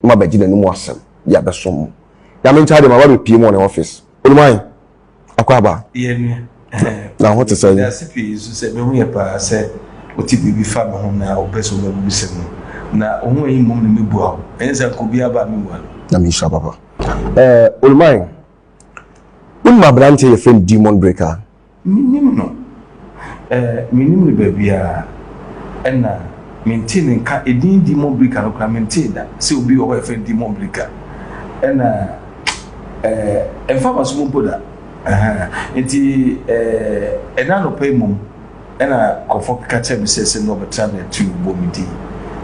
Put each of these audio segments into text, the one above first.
ma abɛgye n'anom asɛm de abɛsom mo. Nyame nkyɛ adeɛ, maba abɛpie mo wɔ ne office. Wonim ahe? Akwaaba. Yɛ me. Na wo ho te sɛn? Meda ase pii nso sɛ mahu yɛ paa sɛ wote biribi fa me ho na wopɛ sɛ wobɛbubisɛm no. Na wo ho ahi mmom na mebua wo. Ɛnyɛ sɛ anka obiara ba a menwua no. Nyame nhyira papa. Eh, Olumae, wonim aberanteɛ yɛfrɛ no Demon Breaker? Mennim no, eh, mennim no baabiara, ɛna mentee ne nka, edin Dimon Brika no koraa mentee da sɛ obi wɔ hɔ a yɛfrɛ no Dimon Brika, ɛna, eh, ɛmfa m'asom mpo da, ɛhɛn. Enti, eh, ɛnnɛ anɔpa yi mmom, ɛna nkurɔfoɔ keka kyerɛɛ me sɛ, sɛ nnɛ wɔbɛtra me atuu, wɔbɔɔ me din,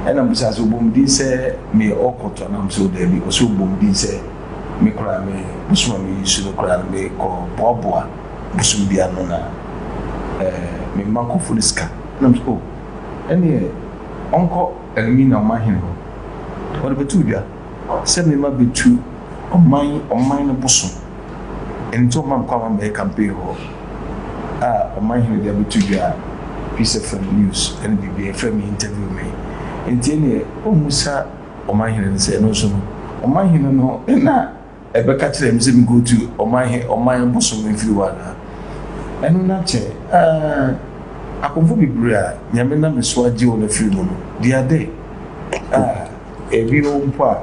ɛna mebisaa sɛ wɔbɔɔ me din sɛ meyɛ Orkot anaa? Wɔse o daabi, wɔse wɔbɔɔ me din sɛ me koraa me bosom a meyi so no koraa no mekɔboaboa. bosoom biara no na ɛɛ me mma kɔfo no sika na me sɛ oh ɛneɛ ɔnkɔ Elmina ɔman hene hɔ ɔde bɛtoo dwa sɛ me mma bɛtu ɔman ɔman no bosoom ɛnim sɛ ɔma me kwan ma mɛyɛ campaign hɔ a ɔman hene de abɛto dwa a piece of um, news ɛne biribi ɛfrɛ me interview me nti ɛneɛ ɔmmu sa ɔman hene no sɛ ɛno nso no ɔman hene no na Ɛbɛka kyerɛɛ me sɛ menkɔtu ɔman he ɔman bosom mfiri hɔ anaa? Ɛno na kyɛ aa! Akomfo bebree a Nyame nam me so agye wɔn afiri mu no, di ade a. Bio mpo a,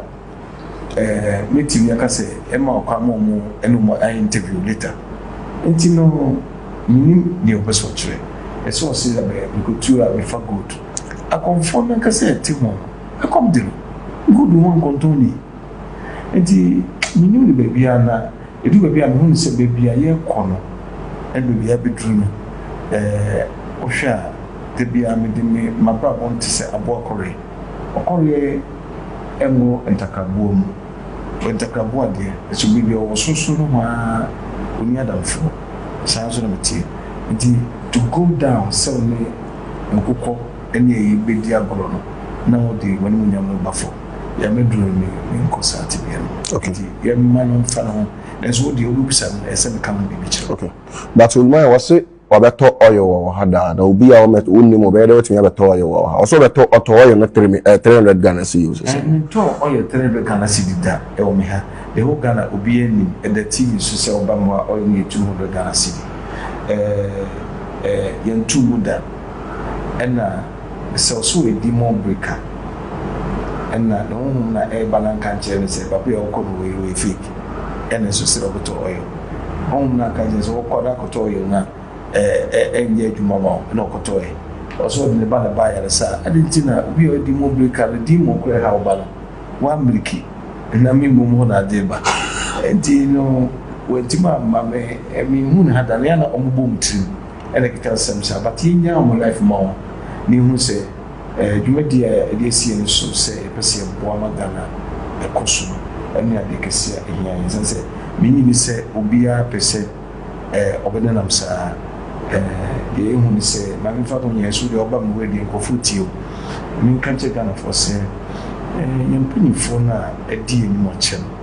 ɛɛ, mɛtumi aka sɛ ɛmma ɔkwan ma wɔn ne wɔn ayɛ interview later. Nti no, mennim deɛ ɔpɛ sɛ ɔkyerɛ. Ɛsɛ ɔse abɛ nkɔtu a mefa gold. Akomfoɔ no ankasa a ɛte ho no, ɛkɔm de no. Gold ho nkɔntɔn nie. Enti mennim no baabiara na ɛduru baabi a mehu no sɛ baabi a yɛrekɔ no baabi a abɛduru no wohwɛ a da biara mede me m'abrabɔ no te sɛ aboa kɔreɛ. Ɔkɔreɛ nwo ntakraboa mu, ɔyɛ ntakraboa deɛ nso baabi a ɔwɔ sorosoro nohoa ara ɔnni adamfoɔ. Saa nso na meteɛ. Enti to go down sɛ wo ne nkokɔ ne ayi bɛdi agorɔ no na wode w'animuonyam no ba fam. Nyame duro no me me nkɔ saa tebea no okay nti yɛ mma no nfa ne ho nanso wo deɛ wo bɛ bisa no ɛsɛ me ka ho biribi kyerɛ wo. Okay but Olumaya wɔ se wabɛ tɔ oil wɔ wɔ ha daa na obi a ɔmɛ wo nnim ɔbɛyɛ dɛ watumi abɛ tɔ oil wɔ wɔ ha ɔse ɔbɛ tɔ ɔtɔ oil no three mi eh three hundred Ghana cedi ɔse sɛ. Me ntɔɔ oil three hundred Ghana cedi da ɛwɔ me ha the whole Ghana obiara nnim ɛda TV so sɛ ɔba mu a oil no yɛ two hundred Ghana cedi eh eh yɛnto mu da ɛna. Ɛsɛw so edi mo bere ka. Nna no honhom na ɛreba na nka nkyerɛ no sɛ babea a ɔkɔ no wei no ɔyɛ fake ɛna nso sɛ ɔbɛtɔ ɔyɔ. Honhom no anka nkyerɛ sɛ ɔkɔ na kɔtɔ ɔyɔ no a ɛnyɛ adwuma ma wo ɛna ɔkɔtɔe. Ɔsɛ ɔde ne ba na ɛba ayaresa a adɛn nti na obi a ɔredi mo bere ka no demon kora ɛha wo ba no woammiriki na me mmom hɔ na ade reba nti no wantumi amma me menhu ne ha da no yɛ a na ɔmobɔ mo tirim. ɛna ɛkeka nsɛm saa but yɛnyaa wɔn life ma wɔn na yɛhunu sɛ eh, dwumadie a yɛde asi yɛn so sɛ yɛpɛ sɛ yɛboa ma Ghana ɛkɔ so no ɛne adeɛ kɛseɛ a ɛhia yɛn sane sɛ menyi ne sɛ obiara pɛ sɛ eh, ɔbɛnenam saa eh, deɛ yɛhu ne sɛ ma memfa no nyɛ so deɛ ɔba me wura deɛ nkurɔfoɔ tie o menka nkyɛ Ghanafoɔ sɛ eh, yɛn mpanimfoɔ no a ɛdi yɛn anim ɔkyɛ no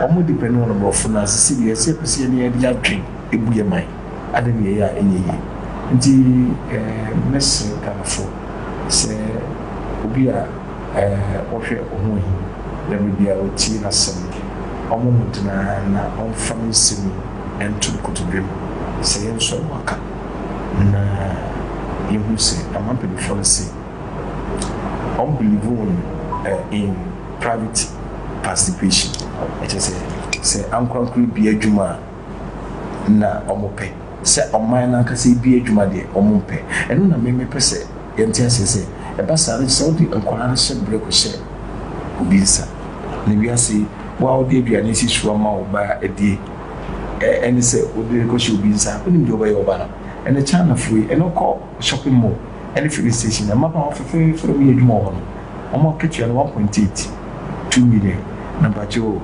Wɔn de pɛ no wɔn aborɔfo no ase sɛ deɛ ɛsɛ pɛ sɛ yɛde yɛn ani adwen bu yɛn man ade ne yɛyɛ a ɛnyɛ yie. Nti mɛsrɛ Ghanafo sɛ obi a ɔhwɛ ɔho ahi na berɛ biara ɔtie n'asɛm no wɔn mmɔden ara na wɔmfa me nsɛm yi nto ne kotodwem sɛ yɛnsɔ no aka na yɛhunu sɛ aman mpaninfoɔ no se wɔn believe wɔn in private participation ɛkyɛ sɛ sɛ ankorankoro bi adwuma a na wɔn pɛ sɛ ɔman n'ankasa bi adwuma deɛ wɔn mpɛ ɛno na mmemme pɛ sɛ yɛn ti aseɛ sɛ ɛba saa no sɛ wɔde nkwadaa no hyɛ brɛ kɔ hyɛ obi nsa na wiase wo a wɔde aduane si so ama wo ba adie ɛne sɛ wɔde rekɔ hyɛ obi nsa wɔn nim deɛ wɔbɛyɛ ɔba no ɛne China foyi ɛne kɔ shopping mall ne filling station na mmabaawa fɛfɛɛfɛ na wɔyɛ adwuma wɔ hɔ no wɔn akatua no one point eight two million na mpakyɛ o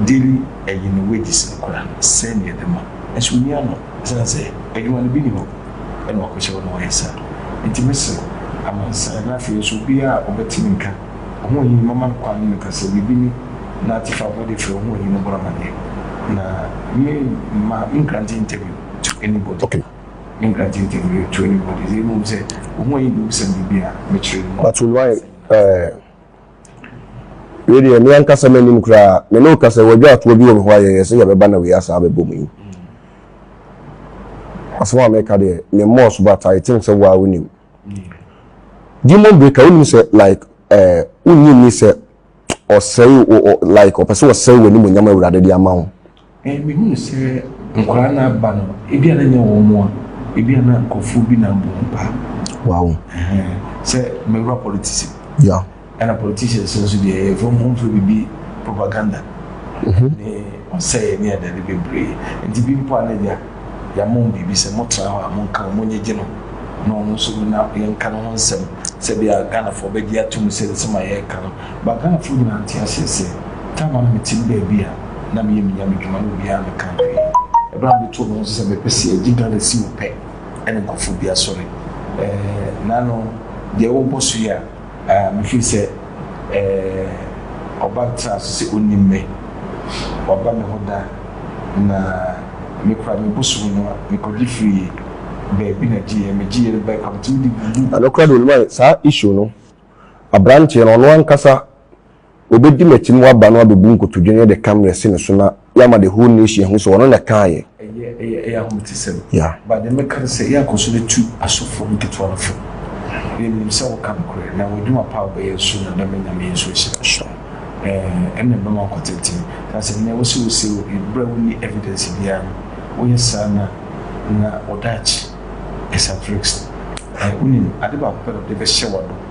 daily ɛyɛ ne wages no kora sɛn na yɛde ma nso ɔnni ano ɛsiane sɛ adwuma no bi nni hɔ na wakɔhyɛ hɔ na wɔyɛ saa nti mesrɛ amansan na afei nso obiara a ɔbɛte me nka ɔhoɔhini mama no kwan ne no kasa biribi ne na te fa abɔde frɛ ɔhoɔhini no bɔ no amaneɛ na me mma me nkrante interview to anybody. Okay. England team team no to anim ade dze mmom sɛ ohun ayi bi wusɛm biribi a mekyerɛ no mu. Mato no ayɛ ɛɛ. Wei deɛ me ankasa m'anim koraa me ne wo kasa yi wɔdwaa toɔ bi wɔ me hɔ a yɛyɛ sɛ yɛbɛba na wei asan abɛbɔ mu yi asɛm a meka deɛ me mmɔɔ so but I think sɛ waa wonim Demon Breaker wonim sɛ like ɛɛ wonnye nni sɛ ɔsɛe wo ɔ like ɔpɛ sɛ ɔsɛe w'animuonyam Awurade de ama wo. Eh, mehunu sɛ nkwadaa no aba no, ebi a na nyɛ wɔn a, ebi a na nkurɔfoɔ bi na abɔ wɔn paa. Wow. Eh, sɛ mɛwura politics. Yeah. Ɛna politicians nso deɛ ɛyɛ fam home fɛ bibi propaganda. Mm-hmm. Ne ɔsɛe ne adade bebree. Nti bi mpo a na agya. Yɛama wɔn biribi sɛ motra hɔ a monka wɔn monyegye no na ɔno nso no na yɛnka ne ho nsɛm sɛdeɛ Ghanafoɔ bɛgye atom sɛ nsɛm a yɛreka no ba Ghanafoɔ nyinaa nte aseɛ sɛ time a na mete me baabi a na meyɛ me Nyame dwuma na obiara mmɛka hwee. Ɛberɛ a metoo me ho so sɛ mepɛ sɛ yɛgye Ghana si hɔ pɛ ɛna nkurɔfoɔ bi asɔre ɛɛ Nano deɛ worebɔ so yi a, Mefiri sɛ ɔba traa so sɛ ɔnnim me, waba me hɔ da, na me kora me bosom no a, mekɔgye firii baabi na gyeeɛ, megyeeɛ no bae kwa, metumi de guguu. Nokorɛ deɛ onim ayɛ saa issue no, abranteɛ no ɔno ankasa Obedi m'akyi na waba na wabebu nkotodwe no yɛ de camera asi ne so na yɛama the whole nation ahu sɛ ɔno na ɛkaa yɛ. Ɛyɛ ɛyɛ ɛyɛ ahometesɛm. Yeah. But deɛ mɛka ne sɛ yɛakɔ so atu asɔfoɔ no nketewa no fo. Yɛnim sɛ woka nokorɛ na w'adwuma pa a wobɛyɛ nso na dame Nyame yi nso ahyira wo. Sure. Ɛɛ ɛna ɛbɛma wakɔ tenten. Na sɛ nnɛ wose wosee obi berɛ a wonni evidence biara no, woyɛ saa na na wo daakye ɛsa drinks no. Ɛɛ wonim, ade baako pɛ na wode bɛhyɛ w'ano.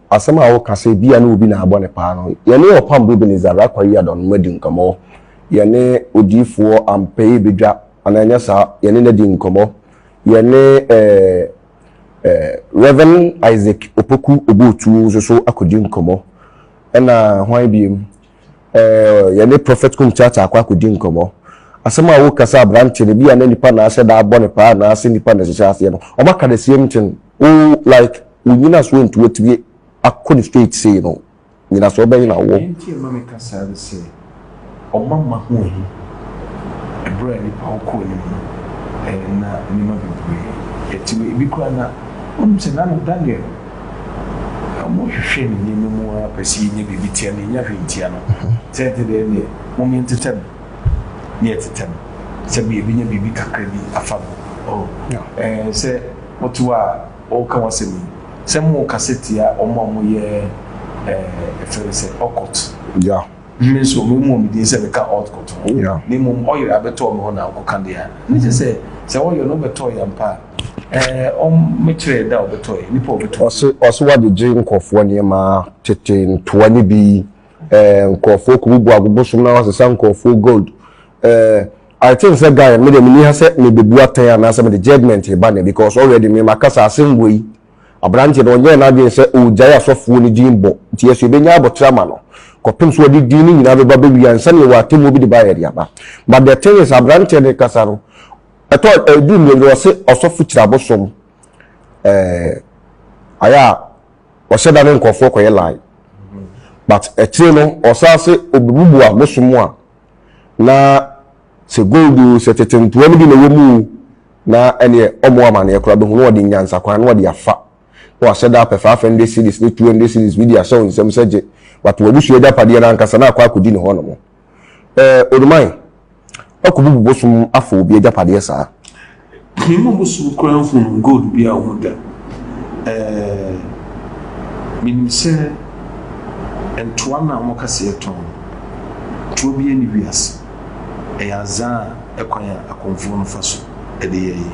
Asɛm a woka sɛ ebia ne obi na abɔ no paa no, yɛne Ɔpam Bubinizar Rakwa Yiadon no adi nkɔmmɔ. Yɛne odiyifoɔ Ampeye Bedwa, anaa ɛnyɛ saa? Yɛne no adi nkɔmmɔ. Yɛne Rev. Isaac Opoku Obuotu nso so akɔdi nkɔmmɔ. Ɛna hwan biom? Eh, yɛne Prophet Kumtata akɔ akɔdi nkɔmmɔ. Asɛm a woka sɛ aberanteɛ no, bi a na nipa na ahyɛ da abɔ no paa anaa sɛ nipa na ɛhyehyɛ aseɛ no, wɔn aka the same thing. Wo like, wo nyinasoɔ nti woatumi akɔ no straight sei no, nyinasoɔ bɛn na wowɔ? Deɛ nti a ɛma meka saa ne sɛ, wɔn amma ho ahi. Ɛberɛ a nipa wɔ kɔɔ anim no, eh, na nneɛma bebree, yɛte wɔ, ebi koraa na, wonim sɛ Nana Daniel, Na wɔhwehwɛ ne nneɛma mu ara pɛ sɛ yenya biribi tia no, yenya hwee ntia no. Sɛ ɛte dɛn deɛ, mom yɛntetɛ no na yɛtetɛ no, sɛdeɛ yɛbɛnya biribi kakra bi afa no. O, ɛɛ, sɛ wote hɔ a woreka w'asɛm yi, sɛ morekasa tia wɔn a wɔyɛ, ɛɛ, yɛfrɛ no sɛ occult. Yeah. Me nso, memmɔɔ me din sɛ meka Ɔɔd kɔto hɔ, na mmom ɔyere abɛtɔɔ me hɔ na ɔkɔka deɛ a na ɛsɛ sɛ sɛ ɔyɛ no wobɛtɔɔ yɛ ampa a, ɛɛ ɔmmɛkyerɛ yɛ da a ɔbɛtɔɔ yɛ, nnipa a ɔbɛtɔ bi. Ɔse ɔse wɔagyegye nkorɔfoɔ nneɛma, tete ntoa ne bi, ɛɛ nkorɔfoɔ kɔbubu abobosom na wɔasesa nkorɔfoɔ gold, ɛɛ I think sɛ guy no, me deɛ menni ha sɛ mebebu atɛn anaasɛ mede judgement reba nnɛ because already me makasa asɛm wei Aberanteɛ no, ɔnyɛɛ n'adwene sɛ ɔregyae asɔfoɔ no din bɔ, nti yɛso yɛbɛnya aboterɛ ama no, kɔpem sɛ ɔde din no nyinaa bɛba bɛwie ansa na yɛwɔ atemmuo bi de baeɛ de aba. But the thing is, aberanteɛ no rekasa no, ɛtɔ, ɛduru mmienu no, ɔse ɔsɔfo kyiri abosom, eh, ayɛ a ɔhyɛ da ne nkurɔfoɔ kɔyɛ lie. But akyire no, ɔsan se ɔbɛbubu abosom a, na sɛ gold o, sɛ tete ntoa no bi na ɛwɔ mu o, na ɛneɛ ɔmɔ amaneɛ koraa bɛhu na ɔde nyansa kwan na ɔde afa na wahyɛ da apɛ 500 cedis ne 200 cedis bi de ahyɛ wo nsam sɛ gye but w'abusua agyapadeɛ no ankasa na akɔ akɔdi ne hɔ nom eh Oduman woakɔbubu bosom afa obi agyapadeɛ saa. Me ma bosom koraa nhunu gold bi a ɔhu da eh menim sɛ ntoa no a wɔka sɛ yɛtɔn no toa biara nni wiase. Ɛyɛ adze a kwan a akɔmfo no fa so de yɛ yi,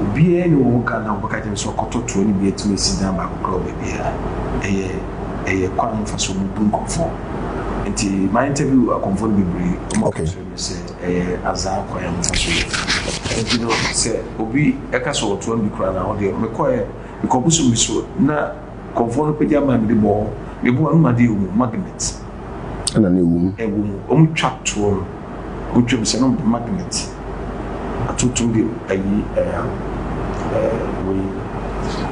obiara nnyi hɔ wɔ Ghana a ɔbɛka kyerɛ me sɛ ɔkɔtɔ toa no bi etum esi dan baako koraa wɔ beebiara. Ɛyɛ ɛyɛ kwan mfaso a wobu nkɔmfo. Ntsi ma interview akɔmfo no beberee, wɔka kyerɛ me sɛ ɛyɛ adze a kwan a wɔfa so yɛ. Ntsi no sɛ obi ka sɛ ɔtoa no bi koraa no a, ɔno deɛ mekɔɛ, mekɔ bosoom bi so na. Nkurɔfoɔ no pagya bag de bɔɔ me bo ano ma adeɛ wɔ mu, magnet, Ɛna na ɛwɔ mu. ɛwɔ mu. Wɔtwa toɔ no, wɔtwam sɛ na wɔde magnet atotom de ayi ɛɛ ɛɛ wei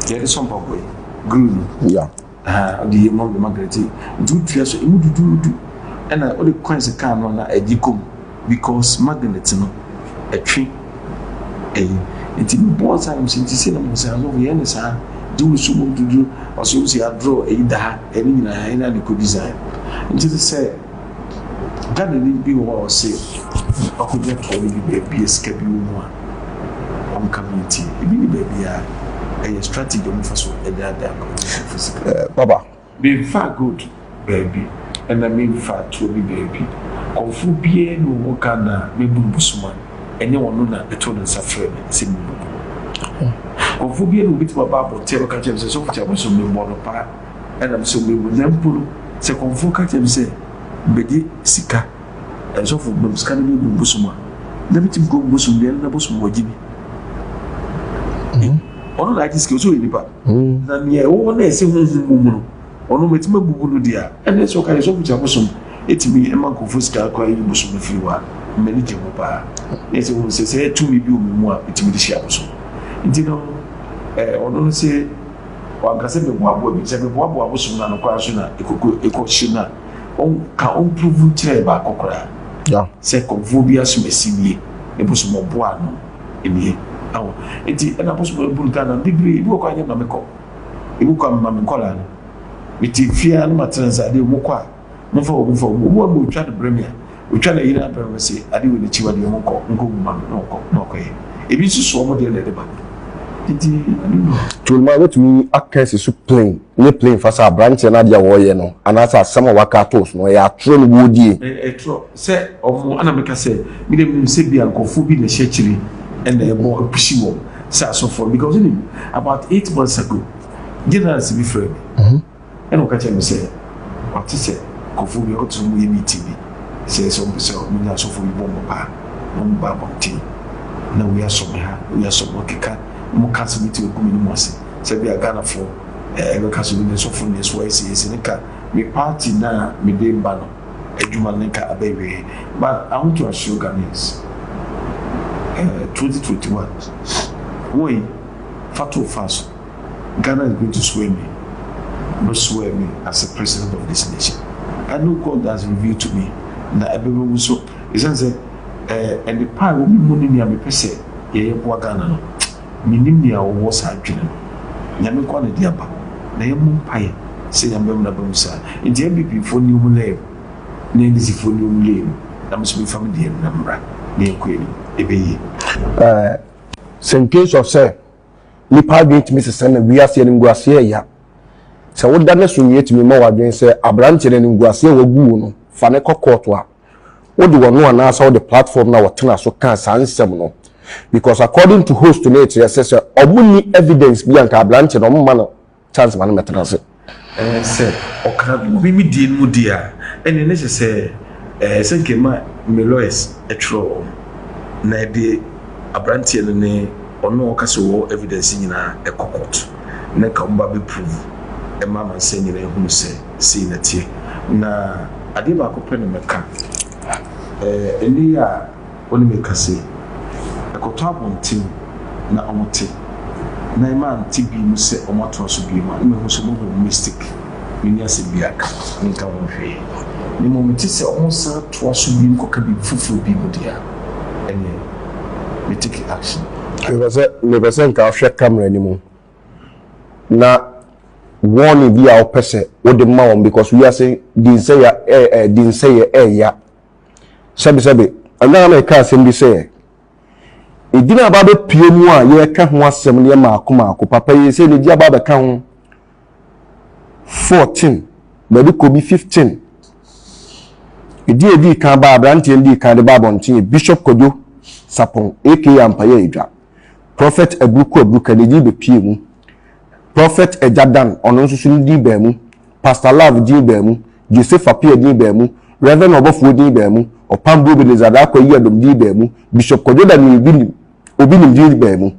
deɛ yɛde sɔ mpaboa yi, glue no. Ya. Aha, wɔde yɛ mu na wɔde magnet yi. Nti wotua so, ɛmu duduudu. Ɛna wode coins ka ano a na ɛgye kɔ mu. Because magnet no ɛtwe ɛyi nti me boɔ nsa yɛm sɛ nti sɛ na mo sɛ asɔfo yɛn ne saa di wo so mu dudu ɔsɛ wo sɛ adrɔ ɛyi da ha ɛne nyinaa ɛne ane kɔ design nti te sɛ Ghana ni bi wɔ hɔ a ɔsɛ ɔkɔgya tɔɔ no bi baabi sika bi wɔ mu a ɔnka me nti ebi ne baabi a ɛyɛ strategy ɔmo fa so ɛdaadaa kɔ sika. Baba. Menfaa gold baabi ɛna menfaa tuo bi baabi. Kɔmfoɔ biara nni wo ho ka nna a mebunu Busuma, ɛnyɛ ɔno na ɛtoo ne nsa frɛɛ me sɛ memmɛbɔ no. Kɔmfoɔ biara nni hɔ ɔbɛtumi aba abɔnten abɛka kyerɛ me sɛ Sɔfo Kyalaba so memmɔ no paa ɛna me so memmɔ no. Na mpo no sɛ kɔmfoɔ ka kyerɛ me sɛ mebɛgye sika, Sɔfo ma me sika na memmɔ Bosom a, na metumi kɔ Bosom dua no na Bosom wagye bi. Ɔno na agye sika yi, ɔsɛ ɔyɛ nipa? ho. Na nea ɛwɔ hɔ na ɛsɛ honhom wom no, ɔno metumi abubu no deɛ a, ɛnna ɛsɛ ɔka yɛ sɛ ɔfiti abosom tumi ma nkurɔfoɔ sika kora yi bosom no firi hɔ a, m'ani gye ho paa. Na ɛsɛ ɔhu sɛ sɛ tumi bi wɔ me mu a metumi de hyia abosom. Nti no, eh, ɔno no se wanka sɛ meboaboa bi, sɛ meboaboa abosom no ano koraa nso na ɛkɔkɔ ɛkɔhye no a, ɔnka ɔmpuruvu nkyerɛ baako koraa sɛ kɔmfoɔ bi asom asimie ne bosom ɔboa ano. nie aho enti ɛna bosom abunu ka na bebree bi wɔ kɔ anyɛ ma me kɔ ebi kɔ ama me nkɔla no mete fia no matena nsa adeɛ ɔmo kɔ a momfa wɔ momfa wɔ ɔmo ama ɔtwa no brɛ me a ɔtwa no ayina brɛ me se adeɛ wɔ n'akyi wadeɛ ɔmo nkɔ nkɔ gu ma me na ɔkɔ na ɔkɔyɛ ebi nso so ɔmo deɛ na ɛde ba nti aduno tolima wobɛtumi aka asi so plane ne plane fa sɛ aberanteɛ no adeɛ a wɔyɛ no anaasɛ asɛm a waka ato so no ɛyɛ atorɔ ne wɔdie ɛtorɔ sɛ ɔmo a na meka sɛ me deɛ menim sɛ bia nkorɔfoɔ bi na ɛhyɛ akyire ɛna ɛbɔ ɛpushi wɔn sɛ asɔfoɔ because wonim about eight months ago general nsi bi frɛ me ɛna ɔka kyerɛ me sɛ wate sɛ nkorɔfoɔ bi ɔte sɛ ɔmo yɛ meeting bi sɛ sɛ ɔmo pɛ sɛ ɔmo nya asɔfoɔ bi bɔ ɔmo paa ɔmo ba abɔnten na wei asɔ me ha wei asɔ me ɔkeka na ɔmo ka asɛm ti ɔgu me ne mu ase sɛ bia Ghanafoɔ ɛbɛka sɛ ɔmo nya asɔfoɔ na ɛso ayɛ sɛ yɛsɛ ne ka me party na mede ba no Adwuma no ka abɛwie ma ahotoasoɔ Ghanaians eh 2021 Woy fa to fa so Ghana is going to swear me Bɛ swear me as a president of this nation And no God has revealed to me na ɛbɛba mu So ɛsiane sɛ eh nnepa a ɛwɔ me mu ne nea mepɛ sɛ yɛyɛ boa Ghana no Mennim nea ɔwɔ saa adwene no. Nyame nkoa na ɛde aba. Na yɛmmɔ mpaeɛ sɛ Nyame bɛma no aba mu saa. Enti NPP foɔ nni wɔn lane mu, na NDC foɔ nni wɔn lane mu, na me nso memfa me deɛ na mmra, na yɛnkɔ yɛn anim. Ɛbɛyie. Eh, sɛ in case of sɛ nnipa adwene tumi sesa na wiase animguaseɛ ɛya, sɛ woda no so nwie tumi ma w'adwene sɛ aberanteɛ no animguaseɛ a wagu wo no, fa no kɔ court a, Wode w'ano anaasɛ wode platform no a wɔtena so kaa saa nsɛm no? Because according to host no ɛkyerɛ sɛ sɛ ɔmo nni evidence bi a nka aberanteɛ no ɔmo mma no chance ma no mmɛtena ase. Ɛɛ sɛ ɔka obi me deɛ no mu deɛ a ɛneɛ na ɛsɛ sɛ ɛɛ sɛ nka ɛma me lawyers ɛtwerɛ wɔ mo na ɛde aberanteɛ no ne ɔno a ɔka sɛ ɔwɔ evidence nyinaa ɛkɔ court na nka ɔmo ba bɛ prove ɛma amansan nyinaa ahunu sɛ Sei na ɛteɛ. Na adeɛ baako pɛ na mɛka. Ɛnnɛ yi a wo ne me kasa yi, kɔtɔ abɔnten na wɔte, na ɛma nte bi mu sɛ wɔatoa so bio a, na mahu sɛ wɔabɔ mu mistake. Menni asɛm biara ka. Menka ho hwee. Na mmom mete sɛ wɔsan toa so bio kɔka biribi foforɔ bi mu deɛ a, ɛnneɛ me take action. Mepɛ sɛ, mepɛ sɛ nka wohwɛ camera no mu. na warning bi a wopɛ sɛ wode ma wɔn because wiase dinsɛya ɛ ɛ dinsɛyɛ ɛɛya sɛbesɛbe ɛnna na ɛka asɛm bi sɛ edin a babɛpue mu a yɛreka ho asɛm no yɛ maako maako papa yi sɛ n'egyi aba abɛka ho fourteen baabi kɔ bi fifteen edin edii kan baa aberanteɛ no dii kan de baa abɔnten yɛ Bishop Kwadwo Sapon aka Ampayɛ Edwa. Prɔfɛt Aburu Ku Aburu Ka ne din bɛpuee mu. Prɔfɛt Agya Dan, ɔno nso so ne din baa mu. Pasta Love din baa mu. Joseph Appiah din baa mu. Rev. Ɔbɔfoɔ din baa mu. Ɔpambo Ebenezer Darko Ayiadom din baa mu. Bishop Kwadwo Daniel Obi Nim Obi Nim din baa mu.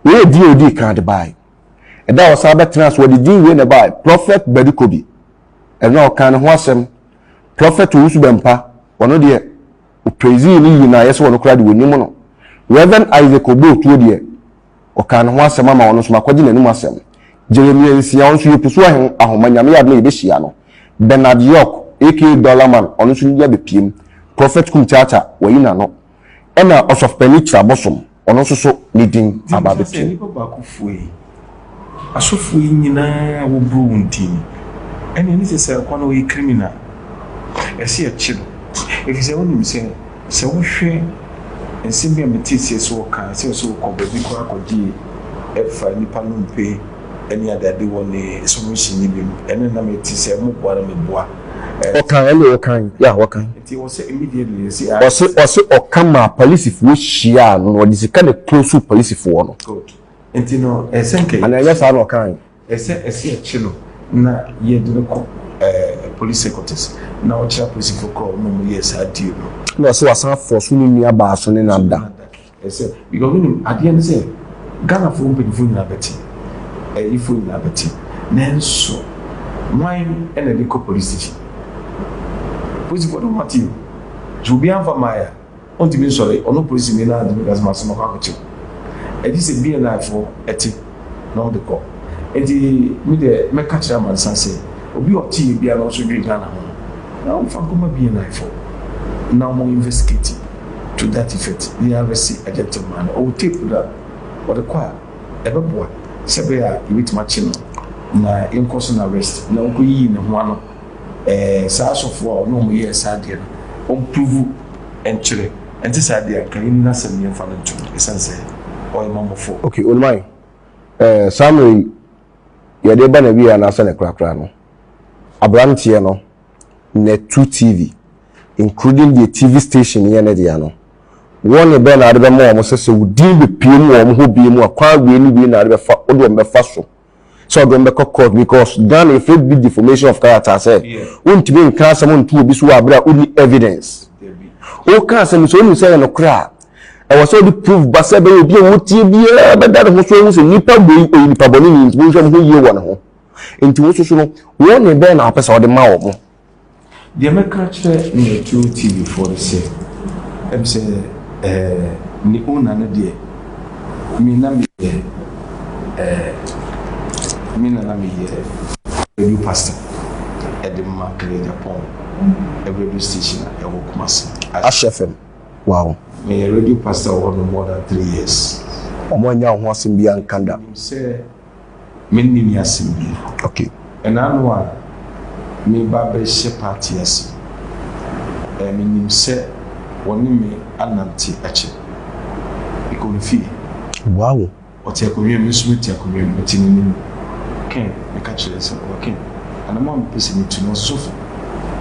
Wei yɛ din a ɔdii kan de baeɛ. Ɛda a ɔsan bɛtenaa ase, wɔde din wei na ɛbaeɛ, Prɔfɛt Badu Kobi. Ɛno a ɔkaa ne ho asɛm. Prɔfɛt Owusu Bɛmpa, ɔno deɛ, Ɔpraisee ne yie no a ɛyɛ sɛ ɔno koraa de wɔnim no. Rev. Isaac Oboo Tuo deɛ, ɔkaa ne ho asɛm ama ɔno nso makɔgye n'anom asɛm. Jeremia Nsia, ɔno nso yɛ Pusu Ahen Ahoma, Nyame yɛ adom a yɛbɛhyia no. Bernard York aka Dollar Man, ɔno nso ne bi abɛpiem. Prophet Kum Kyaakya, wayi n'ano. Ɛna Ɔsɔfopani Kyerɛ Abosom. Ɔno nso so ne din aba abɛto mu. Gye mfa sɛ nnipa baako fua yi, asɔfoɔ yi nyina ara wɔboro wɔn ti ni. Ɛnneɛ ɛnne sɛ Sarkwa no ɔyɛ criminal. Ɛsɛ yɛkye no. Ɛfiri sɛ wonim sɛ, sɛ wohwɛ nsɛm bi a meteeseɛ sɛ ɔkaa sɛ sɛ ɔkɔ baabi koraa kɔgye ɛfa nnipa nnompe, ne adade wɔ ne so no hyɛ ne bem, ɛnna na mete sɛ moboa na meboa. Ɔka, ɛnde ɔka? Yeah, ɔka. Nti ɔse immediately no se aye. Ɔse, ɔse ɔka maa polisifoɔ hyiaa no na ɔde sika na ɛclosuu polisifoɔ no. Good. Nti no ɛsɛ nka yɛkye no. Anaa ɛnyɛ saa na ɔka he? Ɛsɛ, ɛsɛ yɛkye no na yɛde no kɔ eh, police headquarters na ɔkyerɛ apolisifoɔ korɔ na wɔyɛɛ saa deal no. Ɛnna ɔse wasan afɔɔso ne nua baa so ne nada. Ɛsɛ because wonim adeɛ ne sɛ Ghanafoɔ mpanyinfoɔ nyinaa bɛte, ayifoɔ nyinaa bɛte, nanso wan na ɛde kɔ police station? Polisifoɔ de wɔn ate o, so obi anfa mmaeɛ a, ɔntumi nsɔre, ɔno polisini no ara ntumi nka sɛ masoma kɔ akɔkyɛ o. Ɛgye sɛ BNI foɔ te. na ɔde kɔ. Enti me deɛ mɛka kyerɛ amansan sɛ, obi a ɔte yɛ biara na ɔso dwene Ghana ho no, na ɔmfa nkɔma BNI foɔ na ɔmo investigate to that effect na yɛ arrest Agyentem maa no. Ɔwɔ tape no a, ɔde kɔ a, ɛbɛboa sɛ ɛbɛyɛ a yɛbɛtumi akye no na yɛnkɔ so no arrest na ɔnkɔ yiyi ne ho ano. Ɛɛ saa asɔfoɔ a ɔne wɔn yɛɛ saa adeɛ no, wɔn pruvu nkyerɛ ɛnte saa deɛ a, nka yɛn nni asɛm yɛn nfa no nto no, ɛsiane sɛ ɔyɛ mamɔfoɔ. Okay Olumayi, ɛɛ saa mmerɛ yi yɛde reba n'awieɛ anaa sɛdeɛ korakora no, abranteɛ no na tu TV, including deɛ TV station yɛ ne dea no, warning bɛn na wode bɛma wɔn sɛ sɛ wo din bɛpue mu wɔ wɔn hɔ bio mu a, kwan wei ne wei na wode bɛfa, wode wɔn bɛfa so? sɛ ɔde wɔn bɛkɔ court because Ghana yɛ fɛ bi defamation of character sɛ wontumi nka asɛm nto obi so wɔ abere a wonni evidence woka asɛm sɛ wonu sɛ yɛ nokorɛ a ɛwɔ sɛ wode proof ba sɛ bɛyɛ obi a wotie biara bɛda ne ho so ahu sɛ nipa bɔ yi ɔyɛ nipa bɔne ni nti monhwɛ mo ho yie wɔ ne ho nti wo soso no wɔn ne bɛn na wopɛ sɛ wode ma wɔ mo Deɛ mɛka akyerɛ Metro TV foɔ ne sɛ, ɛm sɛ eh, ne owner no deɛ, me na meyɛ eh, me na na meyɛ radio pastor ɛde ma Klejapon radio station a ɛwɔ Kumasi. Ash FM, wow. Meyɛ radio pastor wɔ hɔ no more than three years. Wɔn annya wo ho asɛm biara nka da. Menim sɛ Me nne ni asem bi. Okay. Ɛna ano a me ba bɛ hyɛ party ase ɛɛ me nim sɛ wɔ ne me anante akyɛ. Me kɔ ne fie. Wow. Ɔte akonnwa mu me nso me te akonnwa mu me te n'anim. Ken me ka kyerɛ sɛ ɔɔ Ken anam a me pɛ sɛ me tu no ɔsofo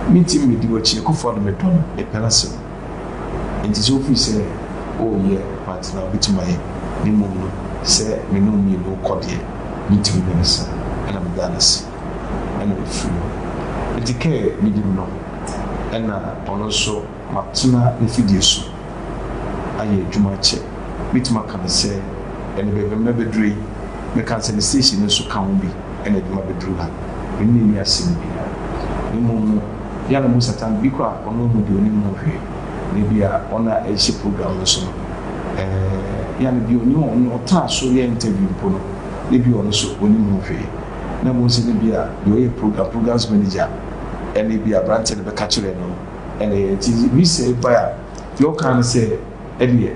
me ntim me di w'akyi Akufo Addo me dɔ no me pɛ n'asem. Enti sɛ ofiri sɛ, Oh, yɛ, mantena a, obetumi ayɛ, na mmom no, sɛ me ne wo mmienu rekɔ deɛ, metumi ne no sa, ɛna meda no ase, ɛna mefiri hɔ. Enti Kerr benim no, ɛna ɔno nso matena n'afidie so ayɛ adwuma akyɛ. Mɛtumi aka no sɛ, ɛnnɛ baabi a mabɛduru yi, mɛka no sɛ ne station no nso ka ho bi. na ɛde ma beduru ha. Mene n'ani ase no bi. Na mmom no, yɛ a na mo Satan bi kɔ a ɔno nhu deɛ onim ho hwee, na ebia wɔn a ɛrehyɛ program no so no, ɛɛ, yɛ a na bi onim wɔn, nea ɔtaa so yɛ interview mpo no, na ebia ɔno nso onim ho hwee. Na mmom sɛ na ebia deɛ ɔyɛ program, program's manager, ɛna ebia aberanteɛ no bɛka kyerɛɛ no no, ɛna ɛyɛ. Nti visa yi bae a, deɛ ɔkaa ne sɛ, Ɛdeɛ.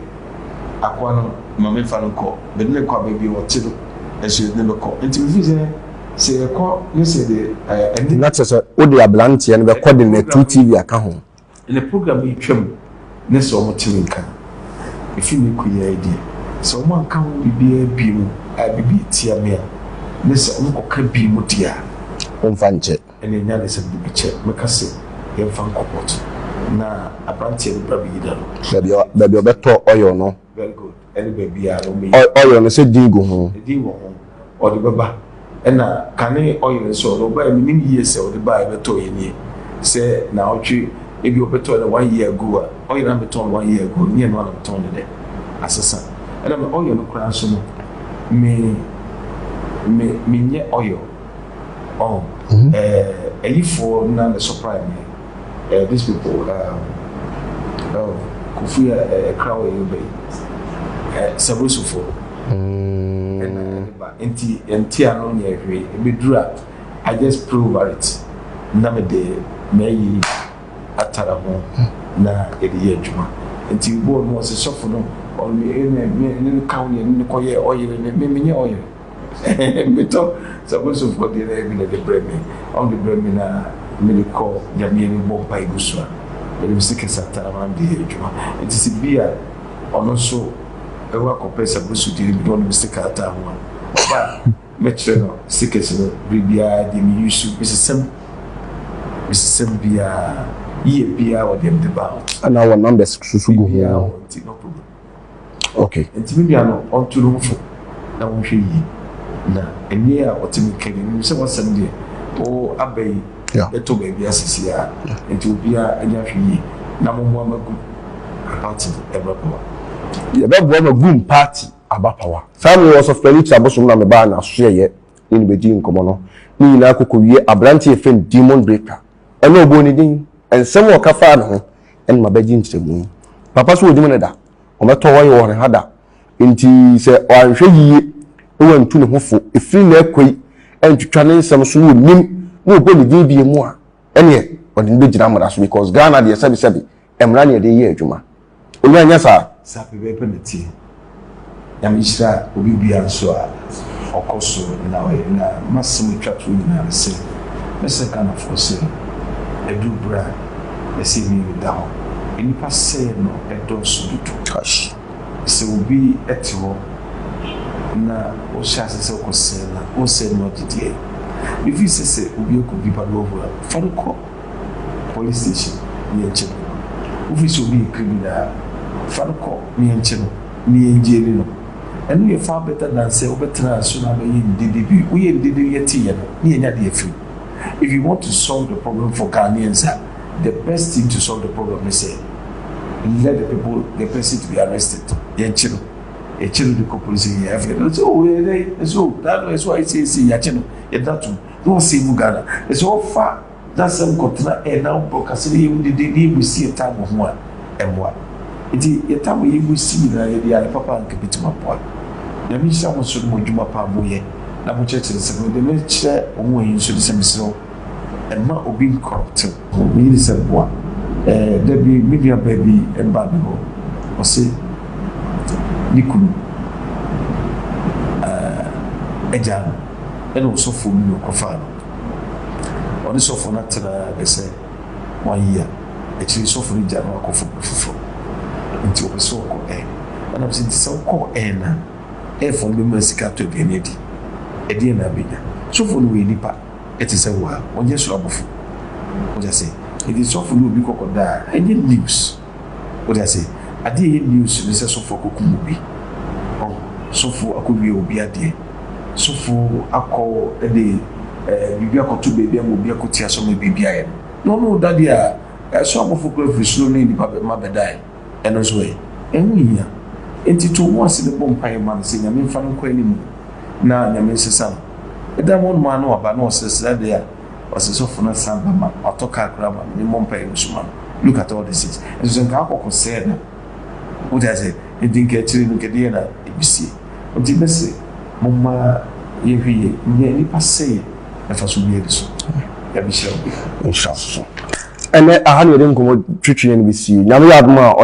akoa no ma mefa no kɔ, mede no kɔ baabi a ɔte no nso yɛde no kɔ. Enti mefiri sɛ, sɛ yɛkɔ ne sɛ deɛ ɛne. Na kyerɛ sɛ, wode abranteɛ no bɛkɔ de no atu TV aka ho. Ne program yi twam ne sɛ wɔn te me nka. Ɛfiri ne kɔ yi ara deɛ, sɛ wɔn anka ho biribiara bio a biribi atia me a, ne sɛ wɔkɔka bio deɛ a. Womfa nkyɛ. Ɛnna nyansam de bi kyɛ me ka se yɛmfa nkɔ port na abranteɛ no bra beyida no. Baabi a baabi a ɔbɛtɔ oil no. Very good. Ɛne baabi a no beyida. Oil oil no sɛ din gu ho. Din wɔ ho. Ɔde bɛba. Ɛnna kane oil nso ɔno ɔbaɛ menim yie sɛ ɔde baɛ bɛtɔɔ yɛ nie sɛ naawɔtwe ebi ɔbɛtɔɔ no one year ago a oil a metɔn no one year ago no nyɛ ɛno ara na metɔn no dɛ asesa ɛnna me oil no koraa nso no me me menyɛ oil. ɔho. Mm-hmm. Eh, ayifoɔ na ne surprise me. Eh, these people, um, oh, kofi a ɛkra wɔ yɛn bɛyi. Eh, sabrosofo. Mm. Ɛna ɛde ba. Nti, nti ano nyɛ hwee. Ebeduru a, I just pray over it. Na me de, mɛyi atara ho na yɛde yɛ adwuma. Nti, bɔɔ no, ɔsɛ sɔfo no, ɔno, ɛna, ne, ne, ne ka wo yɛ, ne kɔ yɛ ɔyere, ne, me, menyɛ ɔyere. Metɔ sabusufoɔ deɛ na bi na ɛde brɛ me, ɔmo de brɛ me na mede kɔ Nyame anim bɔ mpae gu so a, menim sɛ Kesata na maame de yɛ adwuma. Nti sɛ bi a ɔno nso ɛwɔ akɔpɛ sabusu deɛ no bi na ɔnim sika ataa ho a, ɔba a mɛkyerɛ no sikas no bere biara deɛ me yusu, mesesam, mesesam biara, yie biara wɔ deɛ mede ba ho. Ɛna wɔ numbers nso gu ho. Okay. Nti me nua no ɔnto ne ho fo na ɔnhwɛ yie na ɛnneɛ a ɔte me kani menim sɛ wasɛm deɛ o aba yi bɛtɔ baabi asisi a nti obiara ɛnyɛ ahwɛ yie na mo mmoa ma gu party ɛbɛ pawa. Yɛbɛ boa ma gum party aba pawa. Saa me wɔ sɔfpɛni ti abosom na me baa na so yɛyɛ ne no bɛdii nkɔmɔ no ne nyinaa kɔ kɔ wie abranteɛ yɛfrɛ no demon breaker ɛna ɔbɔɔ ne din ɛnsɛm ɔka faa ne ho ɛna mabɛgye nkyerɛmu yi. Papa so wɔnim no da, wɔbɛtɔ wɔyɛ wɔn ha da. Nti sɛ wɔanhwɛ yiye na wɔantu ne ho fo ɛfiri na ɛkɔ yi antwitwa ne nsɛm so na wɔnim na wɔbɔ ne din bie mu a, ɛneɛ wɔde no bɛgyina mmara so because Ghana deɛ sɛbesɛbe mmara ne yɛde yɛ adwuma. Onyɛ anyɛ saa? Saa pɛpɛɛpɛ na ɛteɛ. Nyame hyira obi bia nso a ɔkɔ so na ɔyɛ na masɛm etwa toɔ nyinaa ne sɛ mɛsrɛ Ghanafoɔ sɛ ɛduru berɛ a ɛsɛ yɛn mmienu da hɔ nnipa sɛeɛ no ɛdɔɔso dodo. Gosh sɛ obi te hɔ na wohyɛ aseɛ sɛ wokɔ sɛe no a wonsɛe no agye deɛ mefiri sɛ sɛ obi akɔdi balo a fa no kɔ. Police station na yɛnkyɛ no no. Wofiri sɛ obi yɛ criminal a, fa no kɔ na yɛnkyɛ no na yɛnjaili no. Ɛno yɛ far better than sɛ wobɛtena aso na abɛyɛ ndede bi. Woyɛ ndede no yɛte yɛ no na yɛnya de afiri mu. If you want to solve the problem for Ghanaians a, the best thing to solve the problem ne sɛ let the people, the person to be arrested. Yɛnkye no. Yɛkye no de kɔ police station, yɛyɛ afei na ɔsɛ oh ɛyɛ dɛn? Ɛsɛ oh, daa no ɛsɛ oh ayɛ sei ɛsɛ sei, yɛakye no, yɛda tom. na ɔsɛe gu Ghana. Na sɛ ɔfa n'asɛm kɔtena ɛ na ɔbɔ kasa na yɛhu dede na yɛbu si yɛ tam wɔ ho a, ɛmmoa. Nti yɛ tam a yɛbu si nyinaa yɛde yɛ ade papa a anka ɛbɛtumi aboa. Nyame nhyira mo nso ne mo adwuma pa a moyɛ na mokyerɛkyerɛ nsɛm no. Deɛ mekyerɛ wo ho ɛyi nso ne sɛ mesrɛ wo mma obi nnkɔrɔpte wo. Me yere sɛ boa. Ɛɛ da bi me nua baa bi baa me hɔ, ɔse ne kunu ɛɛ agyaa no. ɛna ɔsɔfoɔ bi no kɔfaa no. Ɔne sɔfoɔ no atenaa bɛ sɛ wɔayi a, akyire yi sɔfoɔ no gyaa no akɔ fapɔ foforɔ. Nti ɔpɛ sɛ ɔkɔ ɛ. Ɛna bɛ sɛ, nti sɛ wokɔ ɛ no a, ɛfoɔ no bɛma sika atɔ aduane adi. Ɛdeɛn na abɛnya? Sɔfoɔ no wɔyɛ nipa ɛte sɛ wo a, wɔnyɛ soro abɔfoɔ. Wate aseɛ? Nti sɔfoɔ no obi kɔkɔda a, ɛnyɛ news. Wote ase? Adeɛ a ɛyɛ news ne sɛ sɔfoɔ akɔkum obi. Ɔho? Sɔfoɔ akɔwia obi adeɛ. Sɔfoɔ akɔ de ɛɛ biribi akɔto baabi ama obi akɔti asɔ ama biribi ayɛ no. Na ɔno reda deɛ a, ɛso abɔfoɔ koraa firi soro ne nnipa bɛ mma bɛdae. Ɛno nso ɛ? Ɛho nhia. Enti to wo ho ase na bɔ mpaeɛ ma no sɛ Nyame mfa no nkɔ anim. Na Nyame nsesa no. Ɛda hɔ no ara na waba na ɔsresre adeɛ a. Ɔse sɔfo no san ba ma no, ɔtɔ car koraa ma no, ne mmɔ mpaeɛ nso ma no, look at all this things, nso sɛ nka akɔkɔ sɛɛ na, wote aseɛ, nti nka akyire no nka ɛdeɛn na ɛbɛsie, nti mɛse momma yɛnhwɛ yie nyɛ nnipa sɛeɛ mfasoɔ biara nni so, Nyame nhyira wo. Nhyira wo nso. Ɛnɛ aha na yɛde nkɔmmɔ twetwe yɛn bɛsie, Nyame yɛ adom a,